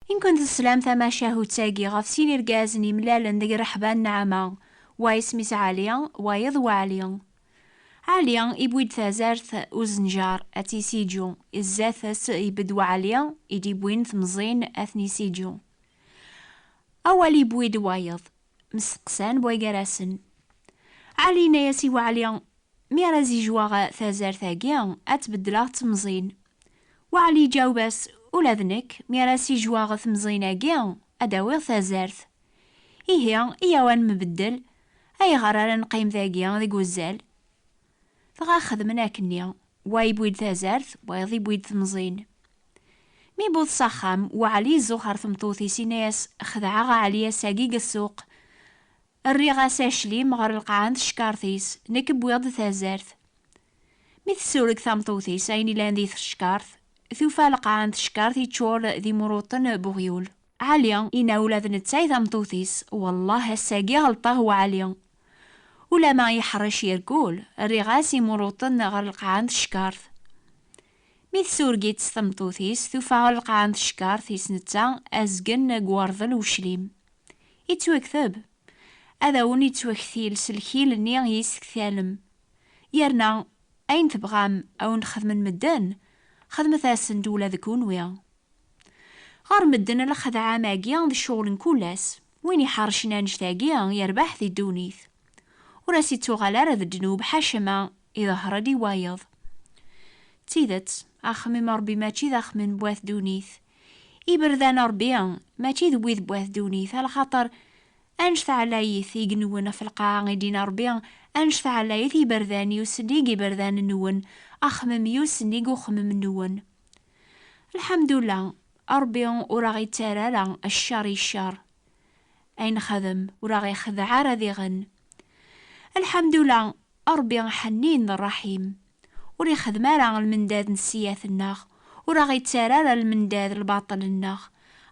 I nkent teslam tamacahut-agi ɣef sin irgazen yemlalen deg rreḥba n Naɛama, wa isem-is Ɛli, wayeḍ Weɛli. Ɛli iwwi-d tazart uzenjar ad tt-isiǧu, i zdat-s ibedd Weɛli i d-iwwin temẓin ad ten-isiǧu. Awal iwwi-d wayeḍ, Mesteqsan bwa gar-asen. Ɛli yenna-yas i Waɛli, Mi ara zijwaɣ tazart-agi, ad tt-beddleɣ d temẓin. Waɛli iǧaweb-as, Ula d nekk, mi ara sijwaɣ temẓin-agi, ad d-awiɣ tazart. Ihi, iyyaw ad nembeddel. Ayɣer ara neqqim dagi deg uzzal? Dɣa xedmen akenni, wa iwwi-d tazart, wayeḍ iwwi-d temẓin. Mi iwweḍ s axxam, Waɛli izuxx ar tmeṭṭut-is, inna-yas, Xedɛeɣ a Ɛli ass-agi deg ssuq, rriɣ-as aclim ɣer lqaɛa n teckaṛt-is, nekk wwiɣ-d tazart. Mi tessureg tameṭṭut-is ayen ilan di teckaṛt, tufa lqaɛa n teckaṛt iččur d imruṭṭen n uɣyul. Ɛli yenna ula d netta i tameṭṭut-is, Wellah ass-agi ɣelṭeɣ wa Ɛli. Ulamma yeḥṛec yergul, rriɣ-as imuṛuṭen ɣer lqaɛa n tcekkart. Mi tsureg-itt tmeṭṭut-is, tufa ɣer lqaɛa n tcekkart is netta azgen n uwerḍel uclim. Ittwakteb! Ad awen-ittwaktil s lkil-nni i yi-s-tektalem. Yerna ayen tebɣam a wen-xedmen medden, xedmet-asen-d ula d kunwi. Ɣer medden lexdeɛ-am-agi d ccɣel n kul ass. Win iḥercen annect-agi yerbeḥ di ddunit, ur as-ittuɣal ara d ddnub ḥaca ma iḍehher-d i wayeḍ. D tidet, axemmem n Rebbi mačči d axemmem n wat ddunit. Iberdan n Rebbi mačči d wid n wat ddunit, a lxaṭer annect ɛlayit i inwen ɣef lqaɛa i d-yenna Rebbi, Annect ɛlayit iberdan yusen i yiberdan-nwen, axemmem yusen i uxemmem-nwen. Lḥamdula, Ṛebbi ur aɣ-ittara ara cceṛ i cceṛ, ay nexdem ur aɣ-ixdeɛ ara diɣen. Lḥamdula, Ṛebbi ḥennin d ṛṛaḥim, ur ixeddem ara lmendad n sseyat-nneɣ, ur aɣ-ittara ara lmendad lbaṭel-nneɣ,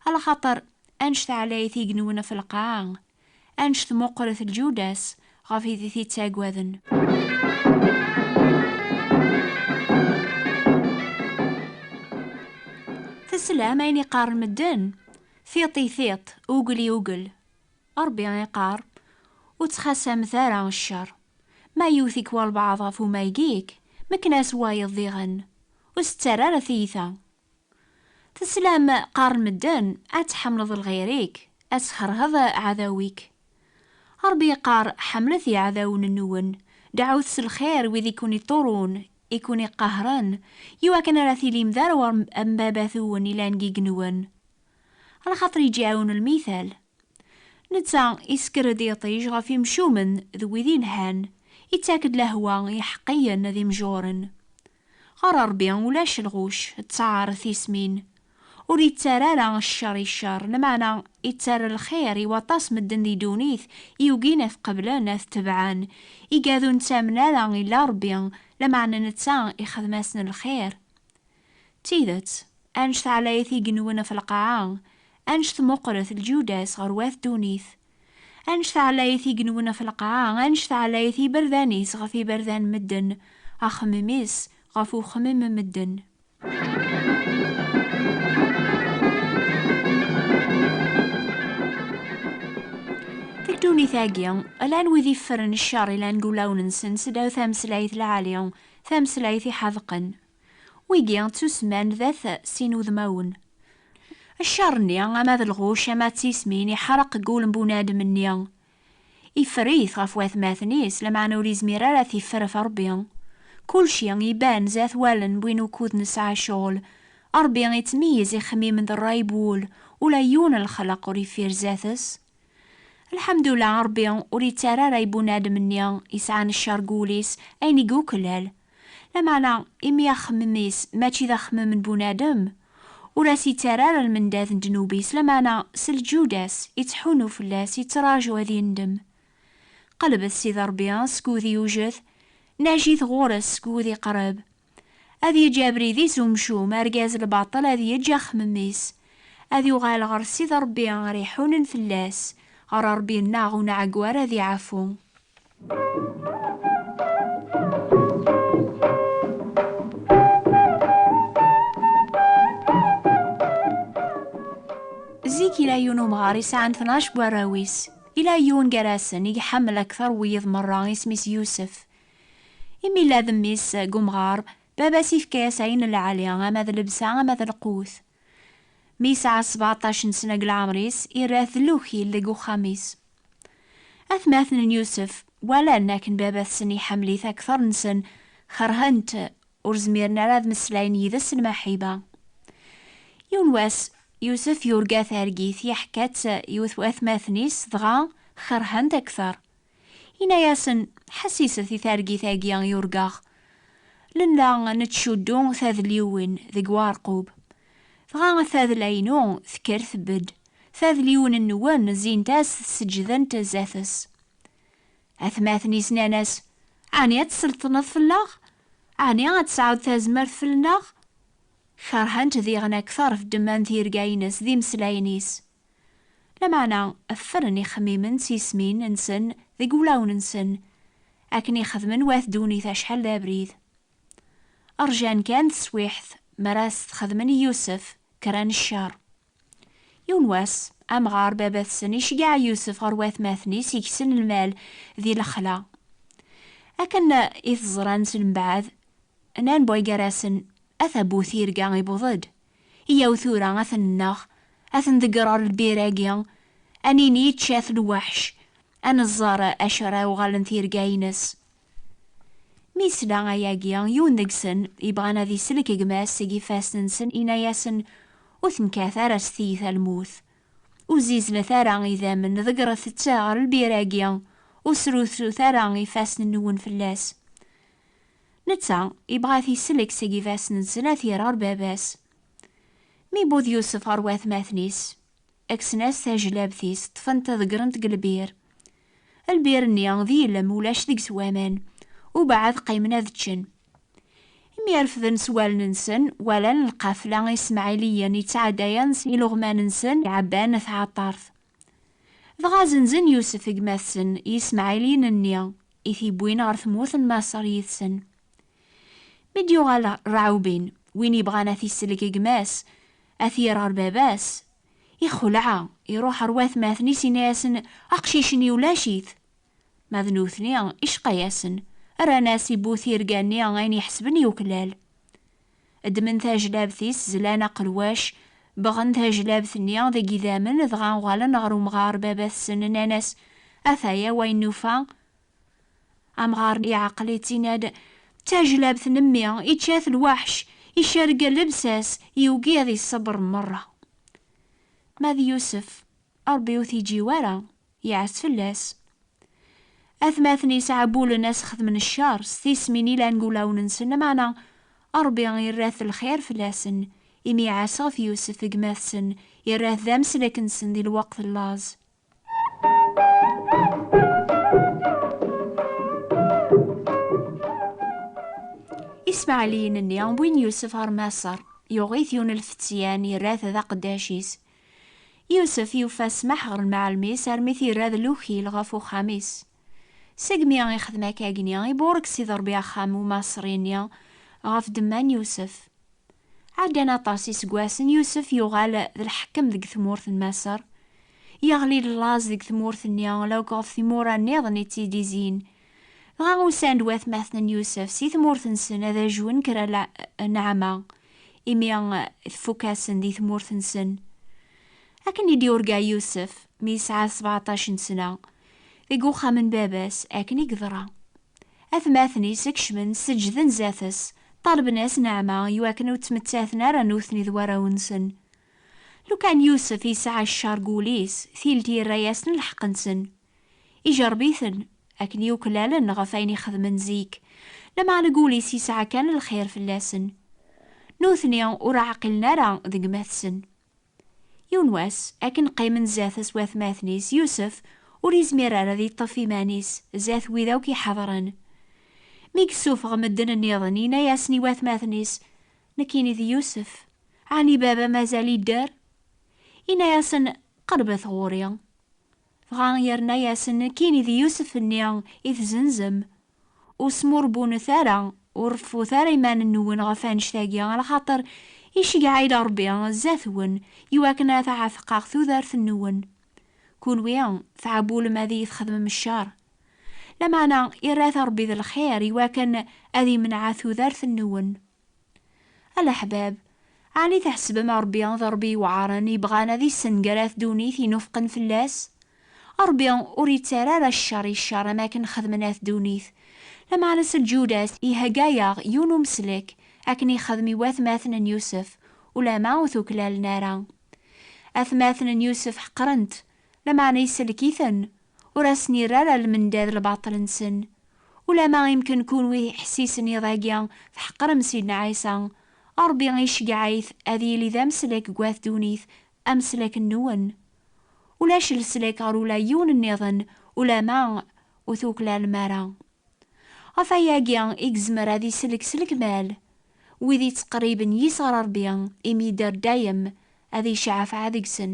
a lxaṭer annect ɛlayet i yenwen ɣef lqaɛa, Annect meqqret lǧuda-s ɣef id i t-ittaggaden. Teslam ayen iqqaren medden? Tiṭ i tiṭ, ugel i ugel. Ṛebbi iqqar, Ur ttxasamet ara ccer. Ma yewwet-ik walbeɛḍ ɣef umayeg-ik, mekken-as wayeḍ diɣen. Ur s-ttarra ara tiyita. Teslam, qqaren medden, ad tḥemmleḍ lɣir-ik, ad tkerheḍ ɛadaw-ik. Rebbi yeqqar, ḥemmlet iɛdawen-nwen, deɛɛut s lxir wid i ken-iḍurun, i ken-iqahren, i wakken ara tilim d arwa n Baba-twen yellan deg yigenwan. Lxaṭer yeǧǧiɛun lmital. Netta isekker-d iṭij ɣef imcumen d wid ilhan, ittak-d lehwa i yiḥeqqiyen d imjuren. Ɣer Ṛebbi ulac lɣuc, ţţar tismin. Ur iţţar ara cceṛ i cceṛ, lmeɛna iţţar lxir i waṭas medden di ddunit i yugin a t-qeblen, a t-tebɛen. Igad ur neţţamen ara illa Ṛebbi, lameɛna neţţa ixdem-asen lxir. D tideţ, annect ɛlayet i genwen ɣef lqaɛa, annect meqqret lǧuda-s ɣer wat ddunit. Anect-a ɛlayit igenwen ɣef lqaɛa, anect-a ɛlayit iberdan-is ɣef iberdan n medden, axemmem-is ɣef uxemmem n medden. Deg ddunit-agi, llan wid iffren ccer, llan deg ulawen-nsen seddaw tameslayt lɛali, tameslayt iḥedqen. Wigi ttusemman d at sin udmawen. Ccer-nni, ama d lɣucc ama d tismin, iḥreq deg wul n bunadem-nni. Iffer-it ɣef watmaten-is, lameɛna ur izmir ara ad t-iffer ɣef Rebbi. Kulci iban s at wallen n win ukud nesɛa ccɣel. Rebbi ittmeyyez ixemmimen d rray n wul, ula yiwen n lexleq ur iffir zdat-s. Lḥemdullah Ṛebbi ur ittara ara i bunadem-nni yesɛan ccer deg wul-is ayen i yuklal. Lameɛna imi axemmem-is mačči d axemmem n bunadem, ur as-ittara ara lmendad n ddnub-is, lameɛna s lǧuda-s ittḥunnu fell-as, yettraǧu ad yendem. Qellbet Sidi Ṛebbi seg wudi yujed, najit ɣur-s seg wudi iqreb. Ad yeǧǧ abrid-is umcum, argaz lbaṭel ad yeǧǧ axemmem-is. Ad yuɣal ɣer Ssid Ṛebbi ara iḥunen fell-as, ɣer Ṛebbi-nneɣ ur nɛeggu ara ad iɛfu. Zik yella yiwen umɣar isɛan tnac n warraw-is. Yella yiwen gar-asen i iḥemmel akteṛ n wiyiḍ meṛṛa, isem-is Yusef. Imi yella d mmi-s deg umɣar, baba-s yefka-as ayen n lɛali, ama d lebsa, ama d lqut. Mi yesɛa sbeɛṭac n sna deg leɛmer-is, irra-t d lukil deg uxxam-is. Atmaten n Yusef walan akken baba-tsen iḥemmel-it akteṛ-nsen, kerhen-t, ur zmiren ara ad meslayen yid-s n Maḥiba. Yiwen wass, Yusef yurga targit, yeḥka-tt yiwet watmaten-is, dɣa kerhen-t akteṛ. Yenna-yasen, Ḥessiset i targit-agi i urgaɣ. Nella nettcuddu tadliwin deg uɛerqub. Dɣa tadla-inu tekker tbedd, tadliwin-nwen zzint-as seǧǧdent zdat-s. Atmaten-is nnan-as, Ɛni ad tselṭneḍ fell-aɣ? Ɛni ad tesɛuḍ tazmert fell-neɣ? Kerhent diɣen akteṛ ddemma n tirga-ines d imeslayen-is. Lameɛna ffren ixemmimen s yismin nsen deg wulawen nsen, akken i xedmen wat ddunit acḥal d abrid. Rjan kan teswiḥt mi ara as-t-xedmen i Yusef, kkren ccer. Yiwen wass, amɣar baba-tsen iceggeɛ Yusef ɣer watmaten-is igsen lmal di lexla. Akken i t-ẓran s lembaɛd, nnan buygarasen, A tabut irga ibuḍ-d, Yyaw tura ad ten-nneɣ, ad ten-ḍeggreɣ lbir-agi, ad nini ičča-t lweḥc, ad neẓẓer acu ara uɣalen tirga-ines. Mi yesla ayagi, yiwen deg-sen, yebɣan ad isellek gma-s seg ifassen-nsen, yenna-yasen, Ur tenkat ara s tiyita lmut. Ur zziznet ara idammen, ḍeggret-tt ɣer lbir-agi, ur srutrut ara ifassen-nwen fell-as. Netta yebɣa ad t-isellek seg ifassen n snat irar baba-s. Mi iwweḍ Yusef ɣer watmaten-is, kksen-as tajlabt-is, ṭṭfen-t ḍeggren-t deg lbir. Lbir-nni d ilem, ulac deg-s waman, ubeɛɛed qqimen ad ččen. Imi refden s wallen-nsen, walan lqafla ismaɛiliyen yettɛeddayen s iluɣman-nsen iɛebban tɛeṭṭart. Dɣa zenzen Yusef gma-tsen Yismaɛiliyen-nni i t-iwwin ɣer tmurt n Maṣer yid-sen. Mi d-yuɣal Raɛubin, win ibɣan a t-isellek gma-s, a t-yerr ɣer baba-s, ixelɛa, iruḥ ɣer watmaten-is inna-yasen, Aqcic-nni ulac-it! Ma d nutni, icqa-yasen, rran-as i bu tirga-nni ayen iḥesben yuklal. Ddmen tajlabt-is, zlan aqelwac, bɣen tajlabt-nni deg yidammen, dɣa uɣalen ɣer umɣar baba-tsen, nnan-as, Ataya wayen nufa. Amɣar iɛeqel-itt, inna-d, D tajlabt n mmi, ičča-t lwaḥc, icerreg llebsa-s, yugi ad iṣebber merra. Ma d Yusef, Ṛebbi ur t-iǧǧi wara, yeɛs fell-as. Atmaten yesɛebbulen ad s-xedmen ccer s tismin ilan deg wulawen-nsen, lameɛna Ṛebbi irra-t lxir fell-asen, imi iɛas ɣef Yusef, gma-tsen, irra-t d ameslek-nsen di lweqt n laẓ. Ismaɛliyen-nni wwin Yusef ɣer Maṣer, yuɣ-it yunelfeţyan, irra-t d aqeddac-is. Yusef yufa ssmaḥ ɣer lmeɛlem-is armi t-irra d lukil ɣef uxxam-is. Segmi i xdem akkagni, iburek Sidi Ṛebbi axxam umaṣri-nni ɣef ddemma n Yusef. Ɛeddan aṭas iseggasen, Yusef yuɣal d lḥekkem deg tmurt n Maṣer. Yeɣli-d laẓ deg tmurt-nni, la akk ɣef timura nniḍen i tt-id-izin, Dɣa usan-d watmaten n Yusef si tmurt-nsen ad ajwen kra nneɛma, imi tfukk-asen di tmurt-nsen. Akken i d-yurga Yusef, mi yesɛa sbeɛṭac n sna, deg uxxam n baba-s, akken i yeḍra. Atmaten-is kecmen, seǧǧden zdat-s, ṭalben-as nneɛma, i wakken ur ttmettaten ara nutni d warraw-nsen. Lukan Yusef yesɛa ccer deg wul-is, tilt yerra-yasen lḥeqq-nsen. Ijerreb-iten akken yuklalen ɣef ayen i xedmen zik, lameɛna deg wul-is yesɛa kan lxir fell-asen. Nutni ur ɛqilen ara d gma-tsen. Yiwen wass, akken qqimen zdat-s watmaten-is, Yusef ur yezmir ara ad yeṭṭef iman-is zdat wid akk iḥedren. Mi yessufeɣ medden nniḍen, yenna-yasen i watmaten-is, Nekkini d Yusef. Ɛni baba mazal idder? Yenna-yasen, Qerbet ɣur-i. Dɣa yerna-yasen, Kini d Yusef-nni i tzenzem. Ur smurebunet ara, ur reffut ara iman-nwen ɣef annect-agi, lxaṭer iceggeɛ-id Ṛebbi zdat-wen, iwakken ad ɛetqeɣ tudert-nwen. Kunwi tɛewwlem ad iyi-txedmem cceṛ. Lameɛna irra-t Ṛebbi d lxir, iwakken ad imneɛ tudert-nwen. A leḥbab, ɛni tḥesbem Ṛebbi d Ṛebbi yewɛaṛen yebɣan ad issenger at ddunit inufqen fell-as? Ṛebbi ur ittarra ara cceṛ i cceṛ am akken xedmen at ddunit. Lameɛna s lǧuda-s ihegga-yaɣ yiwen umeslek akken ixedm i watmaten n Yusef, ulamma ur t-uklalen ara. Atmaten n Yusef ḥeqren-t, lameɛna isellek-iten, ur asen-irri ara lmendad lbaṭel-nsen. Ulamma imken kunwi iḥessisen iḍ-agi tḥeqrem Sidna Ɛisa, Ṛebbi iceggeɛ-it ad yili d ameslek deg wat ddunit, ameslek-nwen. Ulac leslek ɣer ula yiwen nniḍen ulamma ur tuklalem ara. Ɣef wayagi i yezmer ad isellek s lekmal wid yettqerriben yis ɣer Ṛebbi, imi yedder dayem ad iceɛfeɛ deg-sen.